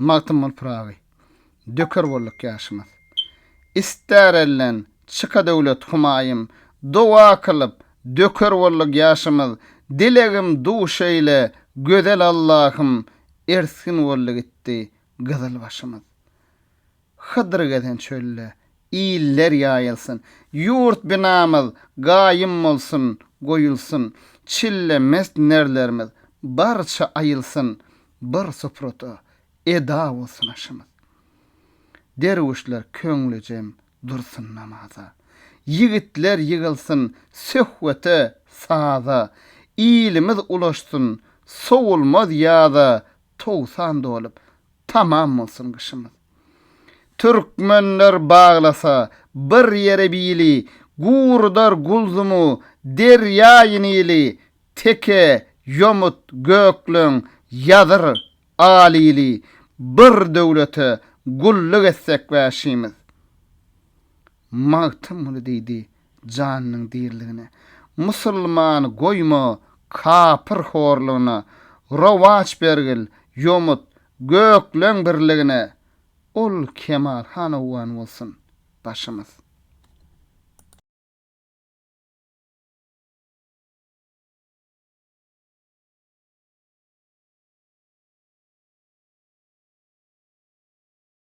Magtymguly Pyragy, Döker bolduk ýaşymyz. Ister elden çyka döwlet humaýym, Doga kylyp, döker bolduk ýaşymyz. Dilegim duş eýle, gözel Allahym, Ersgin boldy gitdi gyzyl başymyz. Hydyr gezen çölde, iller ýaýylsyn, Ýurt binamyz gaýym bolsun, goýulsyn, Çille mest nerlerimiz barça aýylsyn, Bir suprada eda bolsun aşymyz. Derwüşler köňlüjem dursun namaza, Ýigitler ýygylsyn söhbete, saza, Ilimiz ulaşsyn sowulmaz ýaza, Togsan dolup, Tamam bolsun gyşymyz. Türkmenler baglasa bir ýere bili, Gurudar Gulzumu, derýaýy Nili, Teke, Ýomut, Gökleň, Ýazyr, Alili, Bir döwlete gulluk etsek wäşimiz. Magtymguly diýdi. janynyň diriligine, musulman goýma, kapyr horlugyna, rowaç bergil, ýomut, gökleň birligine, ol Kemal han owgan bolsun, başymyz.